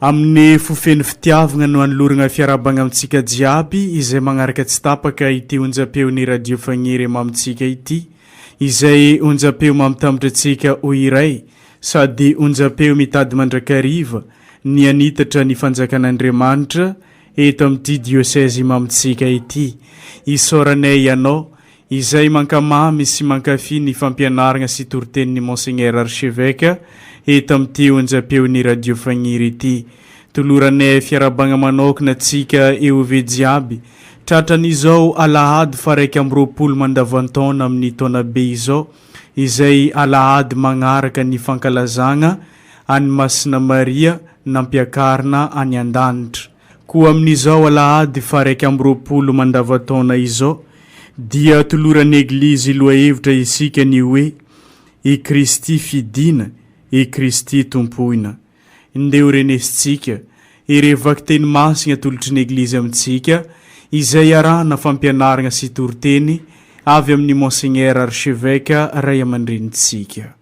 Amin'ny fo feno fitiavagna no anoloragna fiarahabagna amintsika jiaby izay magnaraka tsy tapaka ity onjam-peon'ny Radio Fagniry mamintsika ity, izay onjam-peo mamitambatra antsika ho iray sady onjam-peo mitady mandrakariva ny hanitatra ny Fanjakan'Andriamanitra eto amin'ity diocèse mamintsika ity. Isaoranay Ianao Izay mankamamy sy mankafy ny fampianaragna sy toritenin'i Monseigneur Archevêque eto amin'ity onjam-peon'ny Radio Fagniry ity. Tolorane fiarabagna manokana antsika EOV jiaby, tratran'izao Alahady faharaika amby roapolo mandavan-taona amin'ny taona be izao, izay Alahady magnaraka ny fankalazagna an'i Masina Maria nampiakarina any an-danitra. Koa amin'izao alahady faha-iraika amby roapolo mandavan-taona izao dia toloran'ny Eglizy lohahevitra isika ny hoe, I Kristy fidiana, i Kristy tompoina. Ndeo renesintsika ireo vakiteny masina atolotry ny Eglizy amintsika izay iarahana fampianarana sy toriteny avy amin'ny Monseigneur Archevêque Ray aman-drenintsika.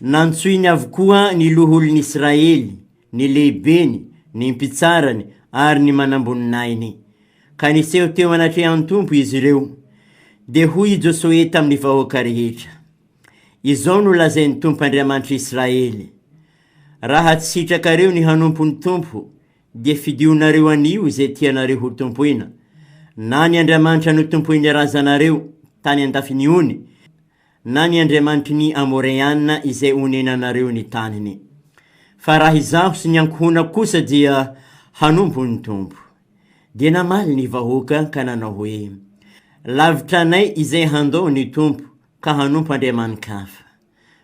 Nantsoiny avokoa ny loholon'Israely, ny lehibeny, ny mpitsarany ary ny manamboninahiny, ka niseho teo anatrehan'ny Tompo izy ireo. Dia hoy i Josoe tamin'ny vahoaka rehetra, Izao no lazain'ny Tompo Andriamanitr'Israely, Raha tsy sitrakareo ny hanompo ny Tompo, dia fidionareo anio izay tianareo hotompoina, na ny andriamanitra notompoin'ny razanareo tany an-dafiny ony, na ny andriamanitry ny Amoreana izay onenanareo ny taniny. Fa raha izaho sy ny ankohonako kosa dia hanompo ny Tompo. Dia namaly ny vahoaka ka nanao hoe, Lavitra anay izay handao ny Tompo ka hanompo andriamani-kafa.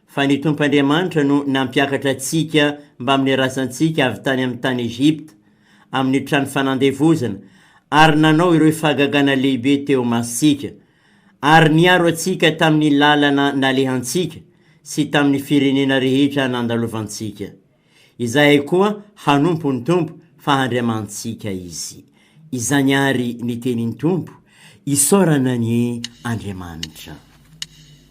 Fa ny Tompo Andriamanitra no nampiakatra antsika mbamin'ny razantsika avy tany amin'ny tany Egypta, amin'ny trano fanandevozana, ary nanao ireo fahagagana lehibe teo imasontsika, Ary niaro antsika tamin'ny lalana nalehantsika sy tamin'ny firenena rehetra nandalovantsika. Izahay koa hanompo ny Tompo fa Andriamanitsika Izy. Izany àry ny tenin'ny Tompo, Isaorana anie Andriamanitra.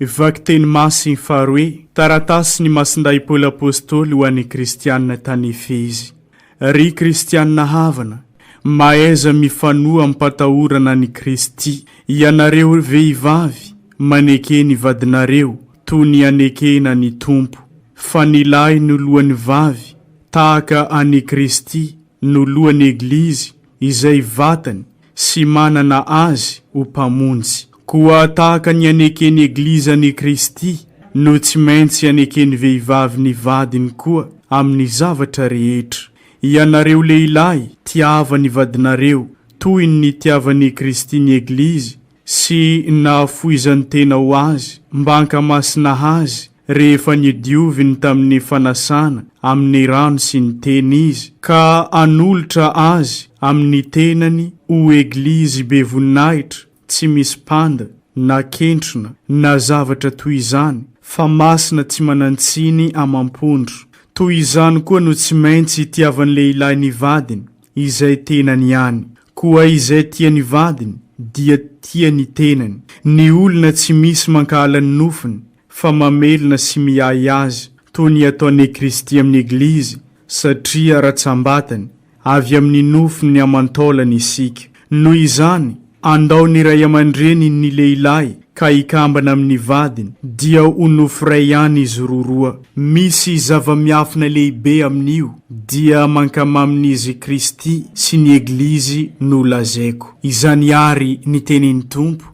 Vakiteny Masy faharoe, Taratasy ny Masindahy Paoly Apôstôly ho an'ny Kristianina tany Efezy. Ry Kristianina havana, mahaiza mifanoa am-patahorana an'i Kristy, ianareo ry vehivavy, maneke ny vadinareo toy ny anekena ny Tompo. Fa ny lahy no lohan'ny vavy, tahaka an'i Kristy no lohan'ny Eglizy, izay vatany sy manana azy ho mpamonjy. Koa tahaka ny aneken'ny Eglizy an'i Kristy, no tsy maintsy aneken'ny vehivavy ny vadiny koa amin'ny zavatra rehetra. Ianareo lehilahy, tiava ny vadinareo, toy ny nitiavan'i Kristy ny Eglizy sy nahafoizan-tena ho azy, mba hankamasina azy rehefa niodioviny tamin'ny fanasana amin'ny rano sy ny Teny Izy, ka hanolotra Azy amin'ny tenany ho Eglizy be voninahitra, tsy misy panda, na kentrona, na zavatra toy izany, fa masina tsy manan-tsiny amam-pondro. Toy izany koa no tsy maintsy itiavan'ny lehilahy ny vadiny, izay tenany ihany. Koa izay tia ny vadiny, dia tia ny tenany. Ny olona tsy misy mankahala ny nofony, fa mamelona sy miahy azy toy ny ataone Kristy amin'ny Eglizy satria ratsambatany avy amin'ny nofony ny aman-taolany isika. Noho izany, andao ny ray aman-dreny ny lehilahy ka hikambana amin'ny vadiny dia ho nofo iray ihany izy roroa. Misy zava-miafina lehibe amin'io dia mankamamin'izy Kristy sy ny Eglizy no lazaiko. Izany ary ny tenin'ny Tompo,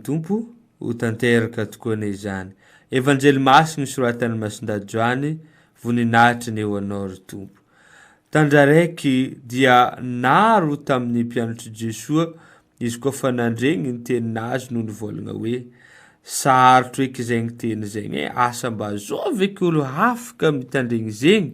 Tompo, ho tanteraka tokoa anie izany Evanjely masina nosoratan'i Masindahy Joany, voninahitra anie ho Anao ry Tompo. Tandraraiky dia naro tamin'ny mpianatr'i Jesoa izy koa fa nandregny ny teny nazy no nivôlagna hoe, Sarotro eky zegny teny zegny e, asa mba zao ve k'olo hafaka mitandregny zegny?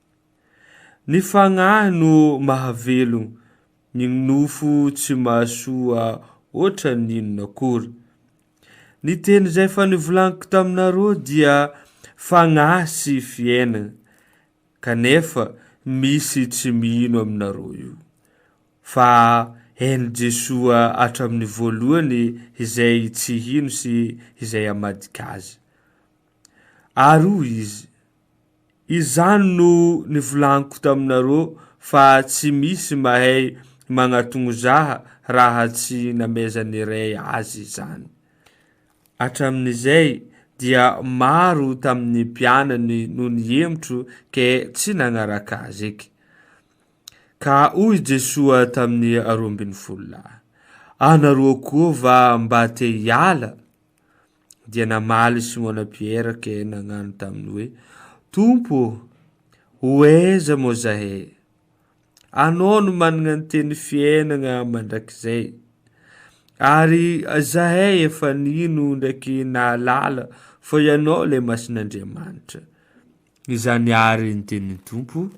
Ny fagnahy no mahavelogno, ny nofo tsy mahasoa hoatra ny inona akory. Ny teny izay efa nivolagniko taminareo dia fagnahy sy fiainagna, kanefa misy tsy mino aminareo io. Fa hain'i Jesoa hatramin'ny voalohany izay tsy hino sy izay hamadika Azy. Ary hoy izy, Izany no nivolaniko taminareo fa tsy misy mahay magnatognozaha raha tsy namezan'ny Ray azy izany. Hatramin'izay dia maro tamin'ny mpianany no nihemotro ke tsy nagnaraka azy eky. Ka hoy Jesoa tamin'ny roambinifolo lahy, Anareo koa va mba te hiala? dia namaly Simona Piera ke nagnano taminy hoe, Tompo ô, oeza moa zahe? Anao no managna ny teny fiainagna mandrakizay, ary zahe efa nino ndraiky nahalala fa Ianao le Masin'Andriamanitra. Izany ary ny tenin'ny Tompo.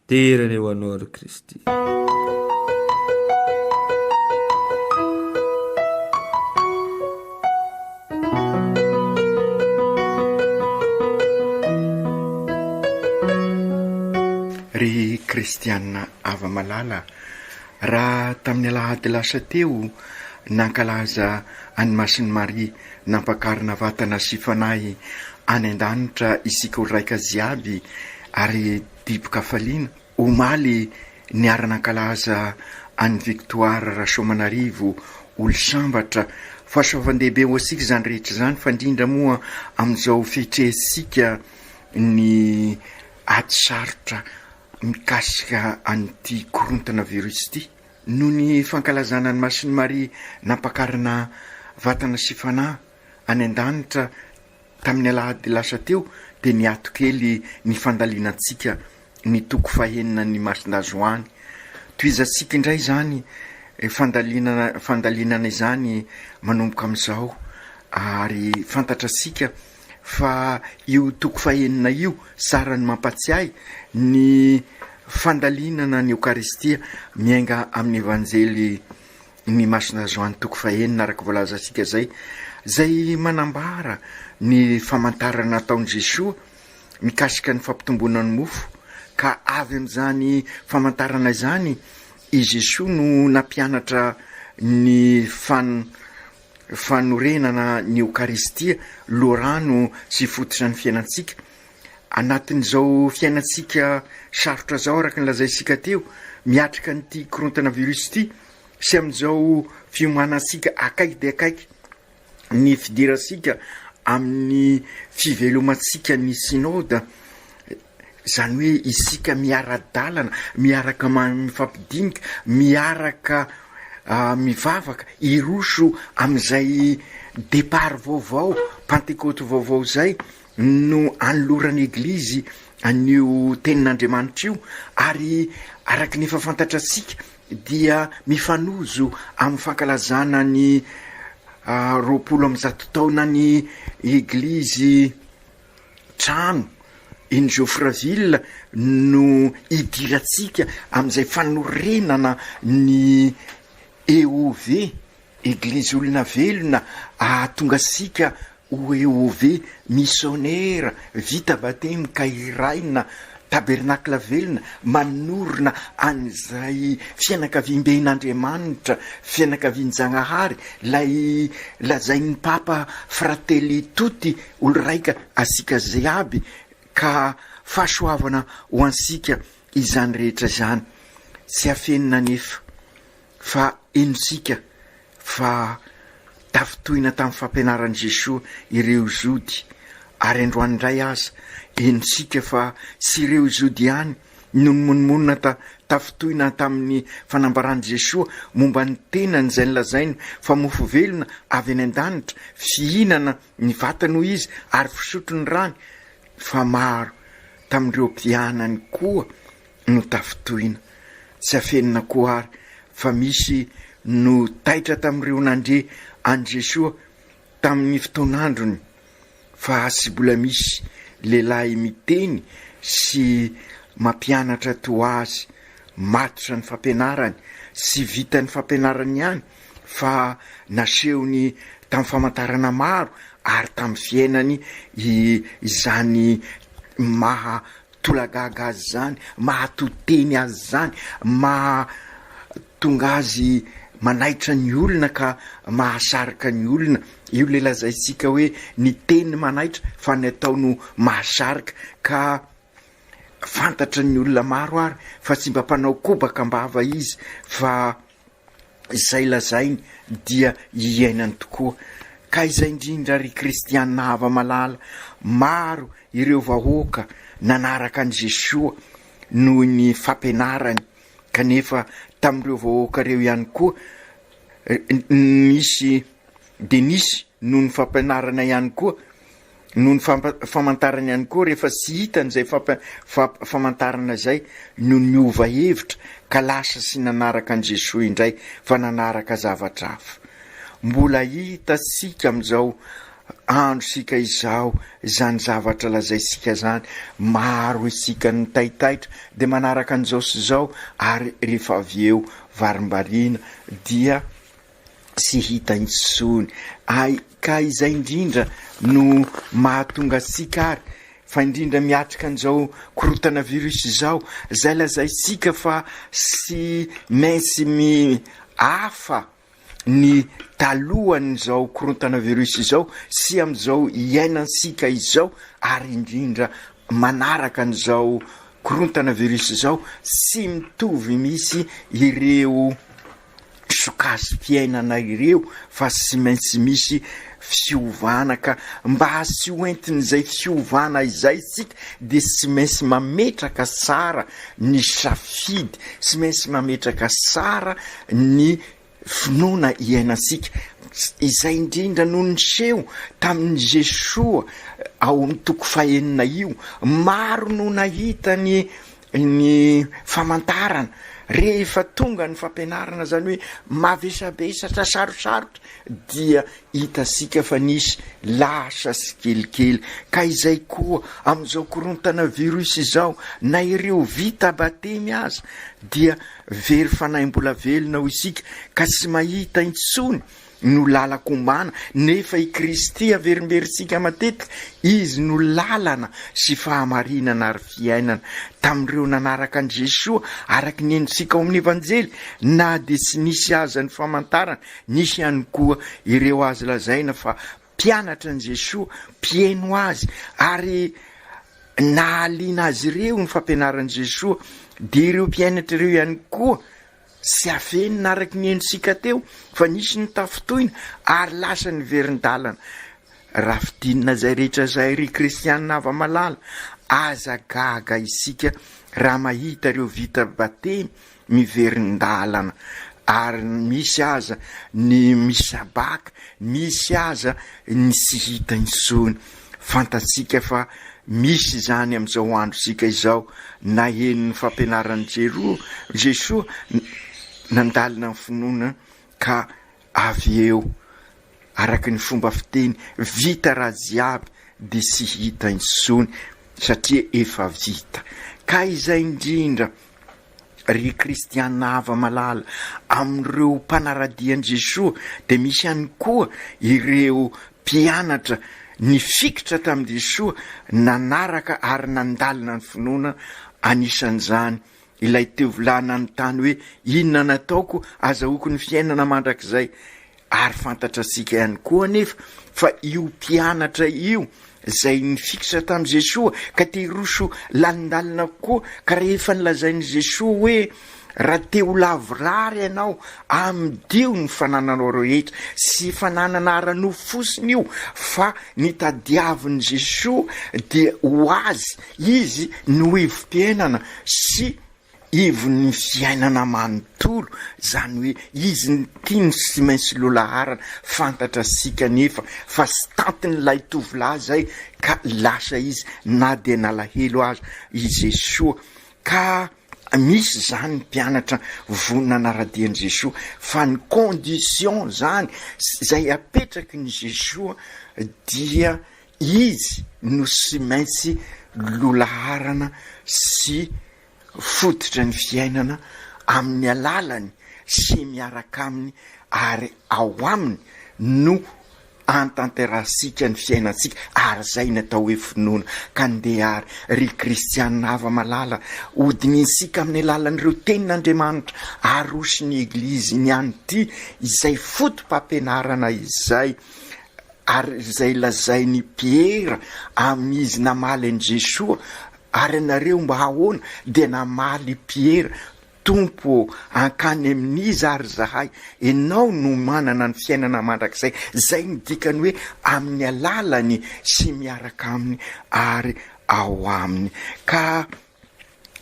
Dera ny ho anao ry Kristy. Ry Kristiana Ava Malala, raha tamin'ny alahady lasa teo nankalaza an'i Masin'i Maria nampakarina vatana sy fanahy any an-danitra isika olon-draika jiaby ary Dibo-kafaliana, omaly, niara-nankalaza an'i Victoire Rasoamanarivo Olosambatra. Fahasoavan-dehibe ho antsika izany rehetra izany, fa indrindra moa amin'izao fihitrehantsika ny ady sarotra mikasika an'ity korontana virus ity. Noho ny fankalazana an'i Masin'i Maria nampakarina vatana sy fanahy any an-danitra, Tamin'ny alahady lasa teo dia niato kely ny fandalinantsika ny toko fahenina ny masindazo any. Tohizantsika indray izany fandalinana fandalinana izany manomboka amin'izao ary fantatratsika fa io toko fahenina io sarany mampatsiahy ny fandalinana ny Eokaristia miainga amin'ny Evanjely ny Masina Joany toko fahenina araka voalazantsika izay, izay manambara ny famantarana nataon'i Jesoa mikasika ny fampitomboana ny mofo, ka avy amin'izany famantarana izany i Jesoa no nampianatra ny fan fanorenana ny Eokaristia, loharano sy fototra ny fiainantsika, Anatin'izao fiainantsika sarotra izao, araka ny lazaintsika teo, miatrika an'ity korontana virus ity sy amin'izao fiomanantsika akaiky dia akaiky ny fidirantsika amin'ny fivelomantsika ny Synode, izany hoe isika miara-dalana, miaraka mifampidinika, miaraka mivavaka hiroso amin'izay départ vaovao, pantekoty vaovao izay, no anoloran'ny Eglizy an'io Tenin'Andriamanitra io, ary araka ny efa fantatratsika dia mifanojo amin'ny fankalazana ny roapolo amby zato taonan'ny Eglizy trano eny Geoffreyville no idirantsika amin'izay fanorenana ny EOV Eglizy olona velona ahatonga sika ho EOV missionera vita batemy ka hiraina tabernacle velona manorina an'izay fianakaviambehin' Andriamanitra fianakavian-Jagnahary lay lazain'ny Papa fratelli tutti olon-raika asika ziaby ka fahasoavana ho ansika izany rehetra izany tsy afenina anefa Fa henontsika fa tafintohina tamin'ny fampianaran'i Jesoa ireo Jody, ary androany indray aza, henontsika fa tsy ireo Jody ihany no nimonomonona ta tafintohina tamin'ny fanambaran'i Jesoa momba ny tenany izay nolazainy fa mofo velona avy any an-danitra, fihinana ny vatany hoy izy ary fisotro ny rany, fa maro tamin'ireo mpianany koa no tafintohina. Tsy afenina koa àry fa misy no taitra tamin'ireo nandre an'i Jesoa tamin'ny fotoan'androny fa tsy mbola misy lehilahy miteny sy mampianatra toa azy. Matotra ny fampianarany. Tsy vitan'ny fampianarany ihany fa nasehony tamin'ny famantarana maro ary tamin'ny fiainany izany maha Tolagaga azy izany, mahato-teny azy izany, mahatonga azy manaitra ny olona ka mahasarika ny olona. Io ilay lazaintsika hoe ny teny manaitra fa ny atao no mahasarika ka fantatry ny olona maro ary fa tsy mba mpanao kobaka am-bava izy fa izay lazainy dia iainany tokoa. Ka izay indrindra ry kristiana hava-malala, maro ireo vahoaka nanaraka an'i Jesoa noho ny fampianarany, kanefa tamin'ireo vahoaka ireo ihany koa nisy dia nisy noho ny fampianarana ihany koa Noho ny famantarana ihany koa rehefa tsy hitany izay famantarana izay no niova hevitra ka lasa sy nanaraka an'i Jesoa indray fa nanaraka zavatra hafa. Mbola hitantsika amin'izao androntsika izao izany zavatra lazaintsika izany, maro isika no taitaitra dia manaraka an'izao sy izao ary rehefa avy eo varimbariana dia Tsy hita intsony ay ka izay indrindra no mahatonga antsika ary fa indrindra miatrika an'izao korotana virus izao zay lazaintsika fa tsy maintsy mihafa ny talohan'izao korontana virus izao sy amin'izao iainantsika izao ary indrindra manaraka an'izao korontana virus izao tsy mitovy mihitsy ireo sokajy fiainana ireo fa tsy maintsy misy fiovana ka mba tsy ho entin'izay fiovana izay isika dia tsy maintsy mametraka tsara ny safidy, tsy maintsy mametraka tsara ny finoana iainantsika. Izay indrindra no niseho tamin'i Jesoa ao amin'ny toko fahenina io. Maro no nahita ny ny famantarana rehefa tonga ny fampianarana zany hoe mavesabesatra sarosarotra dia hitasika fa nisy lasa sy kelikely ka izay koa amin'izao korontana virus izao na ireo vita batemy aza dia very fanahy mbola velona ho isika ka sy mahita intsony no lalako ombana, nefa i Kristy averimberintsika matetika, Izy no lalana sy fahamarinana ary fiainana. Tamin'ireo nanaraka an'i Jesoa, araka ny henontsika ao amin'ny Evanjely, na dia tsy nisy aza ny famantarana, nisy ihany koa ireo azo lazaina fa mpianatra an'i Jesoa, mpieno Azy, ary nahaliana azy ireo ny fampianaran'i Jesoa, dia ireo mpianatra ireo ihany koa Tsy afenina araka ny henontsika teo fa nisy ny tafintohina ary lasa niverin-dalana. Raha fidinina izay rehetra izay ry kristianina hava-malala, aza gaga isika raha mahita ireo vita batemy miverin-dalana ary misy aza ny misabaka, misy aza ny tsy hita intsony. Fantatsika fa misy izany amin'izao androntsika izao. Naheno ny fampianaran'i Jesoa, nandalina ny finoana ka avy eo, araka ny fomba fiteny, vita raha jiaby dia tsy hita intsony satria efa vita. Ka izay indrindra. Ry kristiana hava-malala, amin'ireo mpanara-dia an'i Jesoa dia misy ihany koa ireo mpianatra nifikitra tamin'i Jesoa, nanaraka ary nandalina ny finoana, anisan'izany ilay tovolahy nanontany hoe, Inona no ataoko hazahoako ny fiainana mandrakizay? Ary fantatratsika ihany koa anefa fa io mpianatra io izay nifikitra tamin'i Jesoa ka te hiroso lalindalina kokoa ka rehefa nolazain'i Jesoa hoe raha te ho lavorary ianao amidio ny fanananao rehetra sy fananana ara-nofo fotsiny io fa ny tadiavin'i Jesoa dia ho azy izy no hevi-piainana sy Ivon'ny fiainana manontolo zany hoe izy ntino sy maintsy lolaharana fantatra sy kanefa fa stantin'ilay tovolahy izay ka lasa izy na dia nalahelo aza i Jesoa ka misy izany mpianatra vo nanaradia an'i Jesoa fa ny condition zany izay apetrakin'i Jesoa dia Izy no sy maintsy lolaharana sy fototry ny fiainana amin'ny alalany sy miaraka aminy ary ao aminy no antanterahantsika ny fiainantsika ary izay ny atao hoe finoana. Ka ndeha ary ry kristianina hava-malala, hodinihintsika amin'ny alalan'ireo tenin'Andriamanitra aroson'ny Egliziny ihany ity izay foto-pampianarana izay Ary izay lazain'i Piera amin'izy namaly an'i Jesoa, Ary ianareo mba ahoana? Dia namaly i Piera, Tompo ô, hankany amin'iza ary izahay? Ianao no manana ny fiainana mandrakizay, izay no dikany hoe amin'ny alalany sy miaraka aminy ary ao aminy. Ka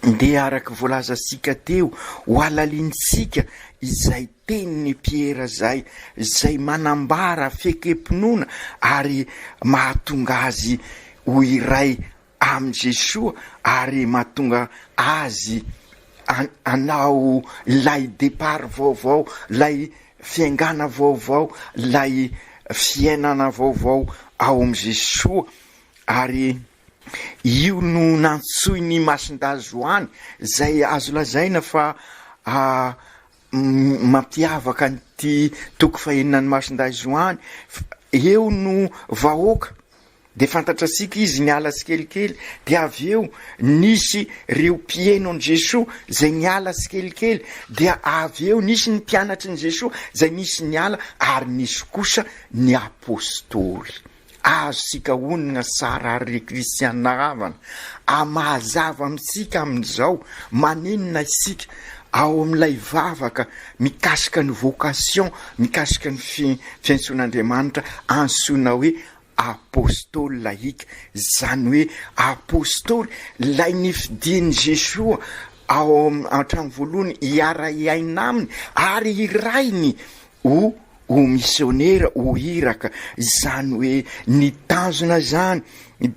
Dia araka ny voalazantsika teo, hohalalinintsika izay tenin'i Piera izay, izay manambara fiekem-pinoana ary mahatonga azy ho iray amin'i Jesoa ary mahatonga azy hanao ilay départ vaovao, ilay fiaingàna vaovao, ilay fiainana vaovao ao amin'i Jesoa ary. Io no nantsoin'i Masindazo an, izay azo lazaina fa mampiavaka an'ity toko fahenina an'i Masindazo an, eo no vahoaka dia fantatrasika izy niala tsikelikely dia avy eo nisy ireo mpiheno an'i Jesoa izay niala tsikelikely dia avy eo nisy ny mpianatry ny Jesoa izay nisy niala ary nisy kosa ny Apostoly. Azontsika onona tsara àry ry kristianina havana, ary mahazava amintsika amin'izao maninona isika ao amin'ilay vavaka mikasika ny vocation, mikasika ny fiantsoan'Andriamanitra antsoina hoe Apostoly lahiaka, izany hoe Apostoly ilay nifidin'i Jesoa ao hatramin'ny voalohany hiara-hiaina aminy ary hirahiny ho ho misionera ho iraka, izany hoe ny tanjona izany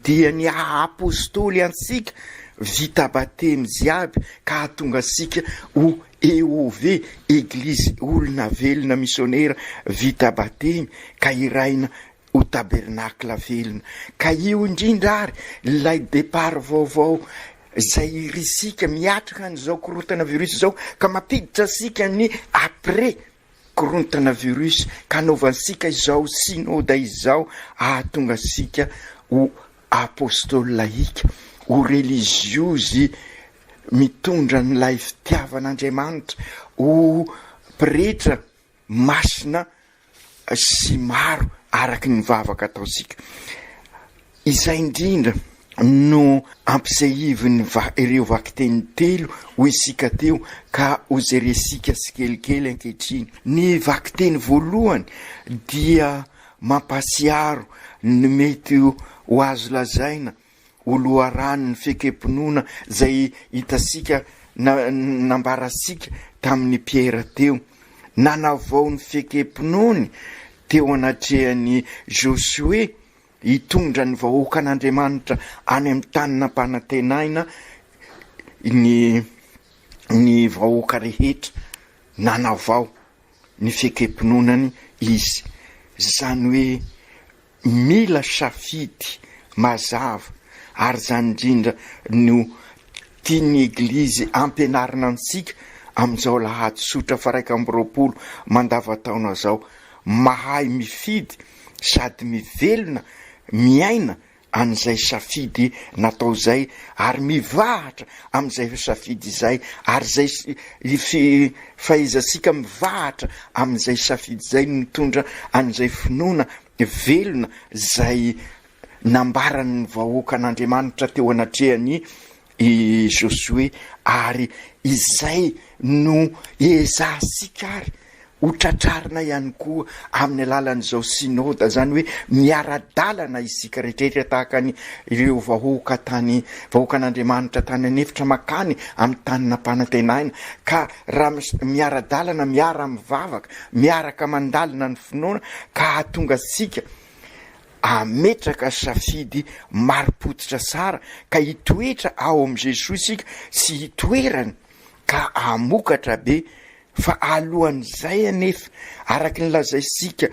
dia ny haha-apostoly antsika vita batemy jiaby ka hahatonga antsika ho EOV, Eglizy olona velona misionera vita batemy ka hiraina ho tabernakla velona. Ka io indrindra ary ilay départ vaovao izay irisika miatrika an'izao korontana virus izao ka mampiditra antsika ny après korontana virus ka anaovantsika izao synoda izao ahatonga antsika ho apostola ika, ho relijiozy mitondra an'ilay fitiavan'Andriamanitra, ho pretra masina sy maro araka ny vavaka ataontsika. Izay indrindra no ampisehivin'ny va ireo vakiteny telo ho isika teo ka ho jeresika tsikelikely ankehitriny. Ny vakiteny voalohany dia mampahatsiaro ny mety ho azo lazaina ho loharanon'ny fiekem-pinoana izay hitantsika na nambarantsika tamin'i Piera teo. Nanavao ny fiekem-pinoany teo anatrehan'i Josoe Hitondra ny vahoakan'Andriamanitra any amin'ny tany nampanantenaina ny ny vahoaka rehetra nanavao ny fiekem-pinoanany Izy. Izany hoe mila safidy mazava, ary izany indrindra no tian'ny Eglizy hampianarina antsika amin'izao lahady tsotra faraika amby roapolo mandavantaona izao, mahay mifidy sady mivelona miaina an'izay safidy natao izay ary mivahatra amin'izay safidy izay ary izay fahaizatsika mivahatra amin'izay safidy izay no mitondra an'izay finoana velona izay nambaran'ny vahoakan'Andriamanitra teo anatrehan'i I Josoe, Ary izay no ezahantsika àry ho tratrarina ihany koa amin'ny alalan'izao Synoda, izany hoe miara-dalana isika rehetra tahaka ny ireo vahoaka tany, vahoakan'Andriamanitra tany an'efitra mankany amin'ny tany nampanantenaina, ka raha miara-dalana, miara-mivavaka, miaraka mandalina ny finoana ka hahatonga antsika Hametraka safidy marim-pototra tsara ka hitoetra ao amin'i Jesoa isika sy hitoerany ka hamokatra be. Fa alohan'izay anefa, araka ny lazaintsika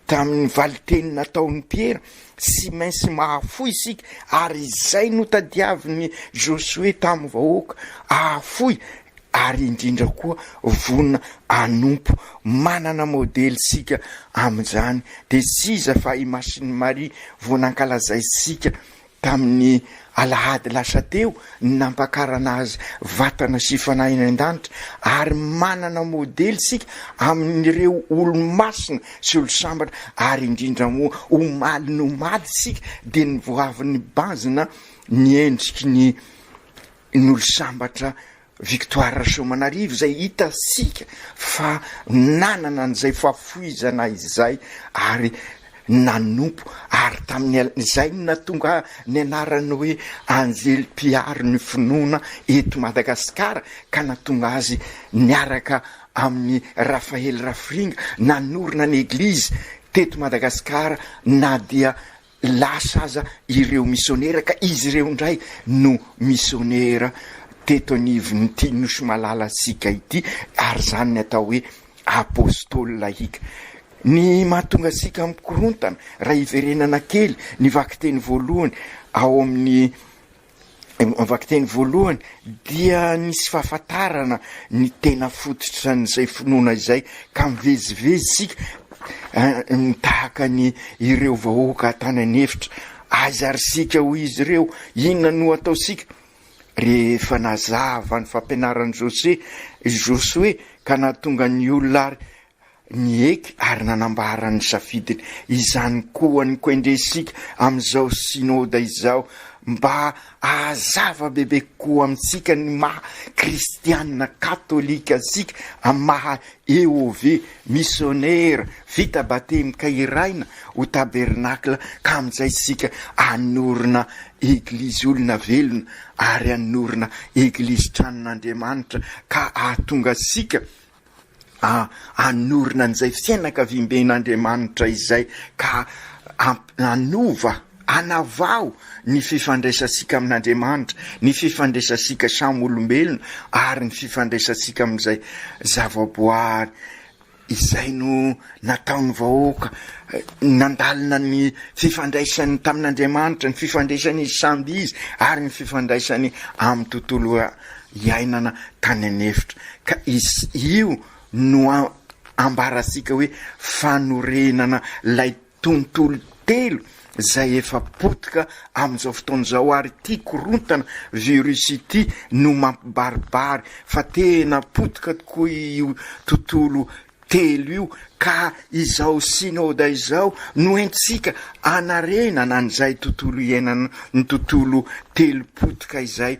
tamin'ny valin-teny nataon'i Piera, tsy maintsy mahafoy isika ary izay notadiavin'i Josoe tamin'ny vahoaka, hahafoy. ary indrindra koa vonona hanompo. Manana modely isika amin'izany. Dia tsy iza fa i Masin'i Maria vao nankalazaintsika tamin'ny alahady lasa teo ny nampakarana azy vatana sy fanahy any an-danitra, ary manana modely isika amin'ireo olo-masina sy olo-sambatra, ary indrindra moa omaly nomaly isika dia ny voavin'ny banjina ny endriky ny Nolo-sambatra Victoire Rasoamanarivo izay hitantsika fa nanana an'izay fahafoizana izay ary nanompo ary tamin'izay no nahatonga ny anarany hoe anjely mpiaro ny finoana eto Madagasikara ka nahatonga azy niaraka amin'i Raphaël Rafiringa nanorina ny Eglizy teto Madagasikara na dia Lasa aza ireo misionera ka izy ireo indray no misionera teto anivon'ity nosy malalantsika ity ary izany ny atao hoe Apostoly lahiaka. Ny mahatonga antsika mikorontana raha hiverenana kely ny vakiteny voalohany ao amin'ny ny vakiteny voalohany dia nisy fahafantarana ny tena fototra an'izay finoana izay ka mivezivezy isika ny tahaka ny ireo vahoaka atany an'efitra aiza ary sika ho izy ireo inona no ataosika rehefa nazava ny fampianaran'i jose josoe ka nahatonga ny olona ary Nieky ary nanambara ny safidiny izany koa ny Koendresika amin'izao Synoda izao mba hahazava bebe kokoa amintsika ny maha Kristianina Katolika antsika amin'ny maha EOV, Misionera vita batemy ka hiraina ho Tabernakla ka amin'izay isika hanorina Eglizy olona velona ary hanorina Eglizy Tranon'Andriamanitra ka hahatonga antsika A Hanorina an'izay fianakaviamben'Andriamanitra izay ka hamp hanova, hanavaho, ny fifandraisantsika amin'Andriamanitra, ny fifandraisantsika samy olombelona ary ny fifandraisantsika amin'izay zavaboary izay no nataon'ny vahoaka nandalina ny fifandraisany tamin'Andriamanitra, ny fifandraisany izy samby izy ary ny fifandraisany amin'ny tontolo iainana tany an'efitra ka io no ambarasika hoe fanorenana ilay tontolo telo izay efa potika amin'izao fotoana izao ary ity korontana virus ity no mampibaribary fa tena potika tokoa io tontolo telo io ka izao synoda izao no entintsika anarenana an'izay tontolo iainana ny tontolo telo potika izay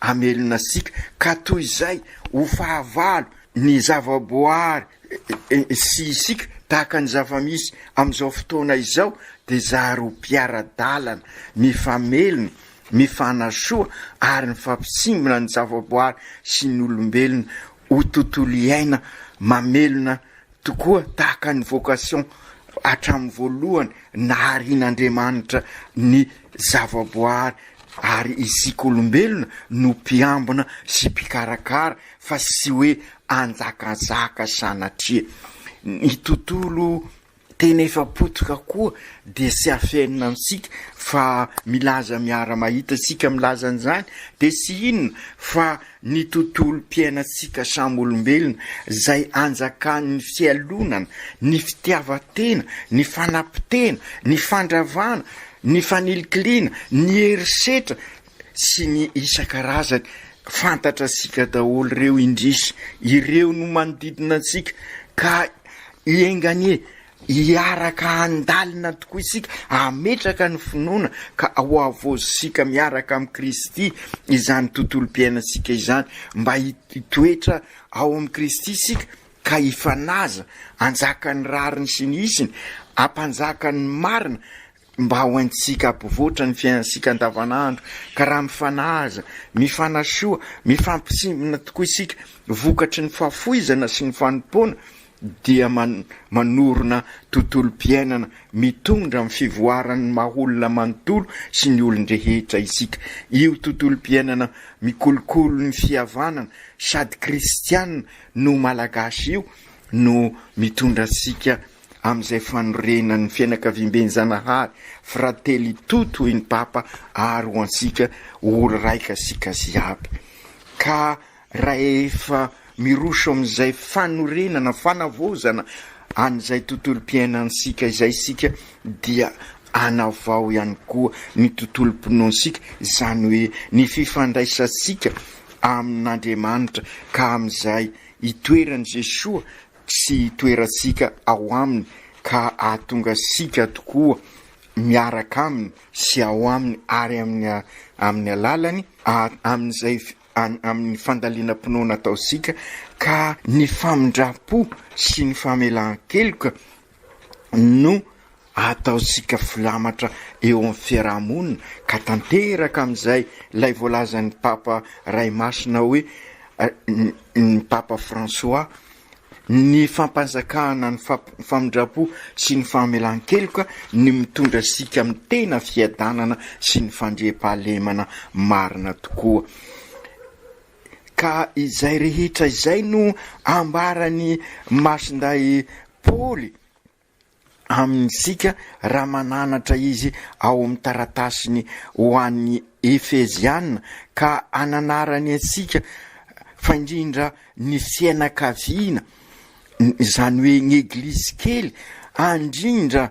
Hamelona antsika, ka toy izay ho fahavalo ny zavaboary sy isika, tahaka ny zava-misy amin'izao fotoana izao, dia zary ho mpiara-dalana, mifamelona, mifanasoa ary mifampitsimbina ny zavaboary sy ny olombelona ho tontolo iaina mamelona Tokoa tahaka ny vocation hatramin'ny voalohany naharian'Andriamanitra ny zavaboary ary isika olombelona no mpiambina sy mpikarakara fa tsy hoe hanjakazaka sanatria. Ny tontolo tena efa potika koa dia tsy afenina amintsika fa milaza miara-mahita isika milaza an'izany dia tsy inona fa ny tontolom-piainantsika samy olombelona, izay anjakan'ny fialonana, ny fitiavan-tena, ny fanapotena, ny fandravana, ny fanilikiliana, ny herisetra sy ny isan-karazany. Fantatratsika daholo ireo indrisy, ireo no manodidina antsika ka enganie Hiaraka handalina tokoa isika, hametraka ny finoana ka hohavaozintsika miaraka amin'i Kristy izany tontolom-piainantsika izany. Mba hitoetra ao amin'i Kristy isika ka hifanaja, hanjaka ny rariny sy ny hisiny, hampanjaka ny marina Mba ho haintsika ampivoatra ny fiainantsika andavanandro, ka raha mifanaja, mifanasoa, mifampitsimbina tokoa isika vokatry ny fahafoizana sy ny fanompoana dia manorina tontolom-piainana mitondra amin'ny fivoaran'ny maha-olona manontolo sy ny olon-drehetra isika. Io tontolom-piainana mikolokolo ny fihavanana sady kristiana no Malagasy io no mitondra antsika amin'izay fanorenan'ny fianakaviamben'i Zanahary, Fratelli tutti hoy ny Papa ary ho antsika oloraika sika ziaby. Ka rahefa miroso amin'izay fanorenana, fanavaozana an'izay tontolom-piainantsika izay isika dia anavao ihany koa ny tontolom-pinoantsika, izany hoe ny fifandraisantsika amin'Andriamanitra ka amin'izay itoeran'i Jesoa sy toerantsika ao Aminy ka hahatonga antsika tokoa miaraka Aminy sy ao Aminy ary amin'ny amin'ny alalany amin'izay amin'ny fandalinam-pinoana ataontsika ka ny famindram-po sy ny famelan-keloka no ataontsika filamatra eo amin'ny fiaraha-monina ka tanteraka amin'izay ilay voalazan'ny Papa Ray Masina hoe ny Papa François, ny fampanjakana ny famindram-po sy ny famelan-keloka ny mitondra antsika amin'ny tena fiadanana sy ny fandriampahalemana marina tokoa. ka izay rehetra izay no ambaran'i Masindahy Paoly amintsika raha mananatra izy ao amin'ny taratasiny ho an'ny Efeziana ka ananarany antsika fa indrindra ny fianakaviana, izany hoe ny Eglizy kely, andrindra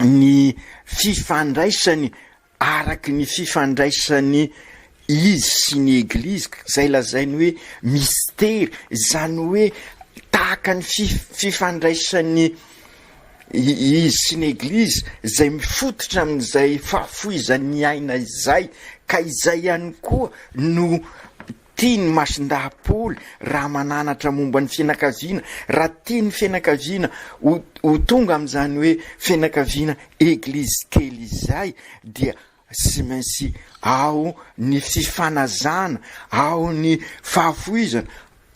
ny fifandraisany araky ny fifandraisany izy sy ny eglizy izay lazainy hoe mistery izany hoe tahaka ny fifandraisany izy sy ny eglizy izay mifototra amin'izay fahafoizan'ny aina izay ka izay ihany koa no Tian'i Masindahapol raha mananatra momba ny fianakaviana, raha tian'ny fianakaviana ho ho tonga amin'izany hoe fianakaviana eglizy kely izay dia tsy maintsy ao ny fifanazana, ao ny fahafoizana,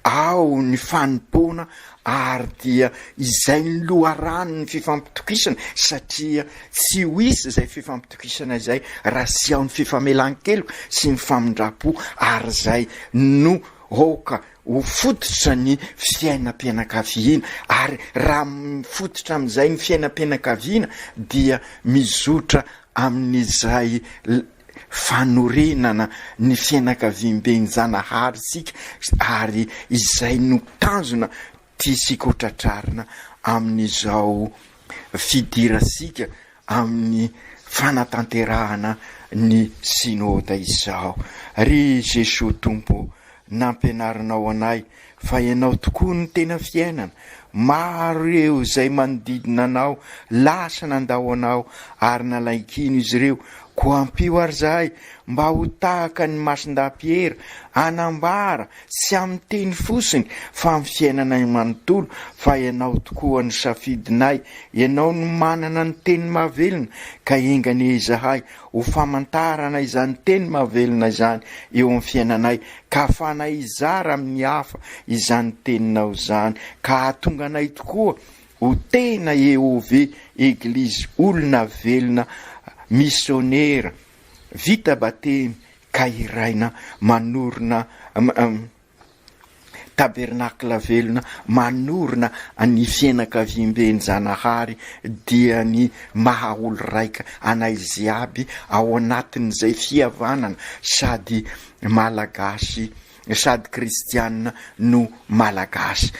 ao ny fanompoana Ary dia izay ny loharanon'ny fifampitokisana satria tsy ho hisy izay fifampitokisana izay raha tsy ao ny fifamelan-keloka sy ny famindram-po ary izay no aoka ho fototra ny fiainam-pianakaviana ary raha mifototra amin'izay ny fiainam-pianakaviana dia mizotra amin'izay fanorenana ny fianakaviamben'ny Zanahary isika ary izay no tanjona tiantsika ho tratrarina amin'izao fidirantsika amin'ny fanatanterahana ny Synoda izao. Ry Jesoa Tompo o, nampianarinao anay fa ianao tokoa no tena fiainana, maro ireo izay manodidina anao lasa nandao anao ary nalain-kino izy ireo, koa ampio ary izahay mba ho tahaka ny Masindahy Piera, hanambara tsy amin'ny teny fosiny fa amin'ny fiainanay manontolo fa ianao tokoa no safidinay, ianao no manana ny teny mahavelona ka enga anie izahay Ho famantarana izany teny mahavelona izany eo amin'ny fiainanay, ka hahafahanay hizara amin'ny hafa izany Teninao izany, ka hahatonga anay tokoa ho tena EOV, Eglizy Olona Velona Misionera, vita batemy ka hiraina manorina. Tabernakla velona manorina ny fianakaviamben'i Zanahary dia ny maha olo-raika anay ziaby ao anatin'izay fihavanana sady Malagasy sady Kristianina no Malagasy.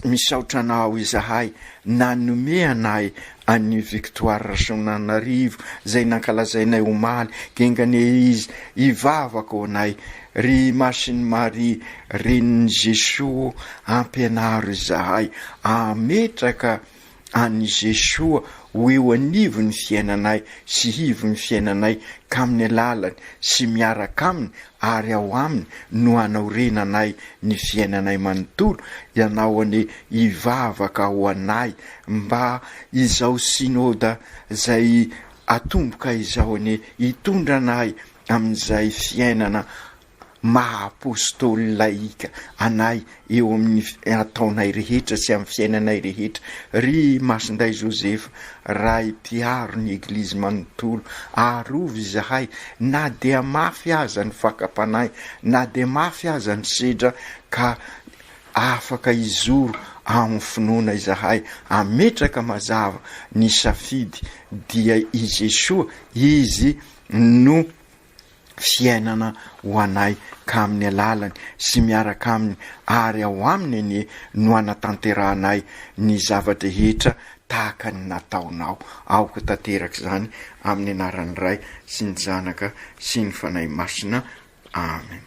Misaotra anao izahay nanome anay an'i Victoire Rasoananarivo izay nankalazainay omaly, genga anie izy, hivavaka ho anay ry Masin'i Maria renin'i Jesoa ampianaro izahay hametraka an'i Jesoa ho eo anivon'ny fiainanay sy hivon'ny fiainanay k'amin'ny alalany sy miaraka Aminy ary ao Aminy no hanaorenanay ny fiainanay manontolo, Ianao anie hivavaka ho anay mba izao Synoda izay atomboka izao anie hitondra anay amin'izay fiainana maha Apôstôly lahika anay eo amin'ny ataonay rehetra sy amin'ny fiainanay rehetra, ry Masindahy Joseph, Ray mpiaro ny Eglizy manontolo, arovy izahay na dia mafy aza ny fakam-panahy, na dia mafy aza ny sedra, ka afaka hizoro amin'ny finoana izahay, hametraka mazava ny safidy, dia i Jesoa, Izy no. fiainana ho anay ka amin'ny alalany sy miaraka aminy ary ao aminy anie no anatanterahanay ny zava-drehetra tahaka ny nataonao. Aoka tanteraka izany amin'ny anaran'ny Ray sy ny Zanaka sy ny Fanahy Masina. Amen.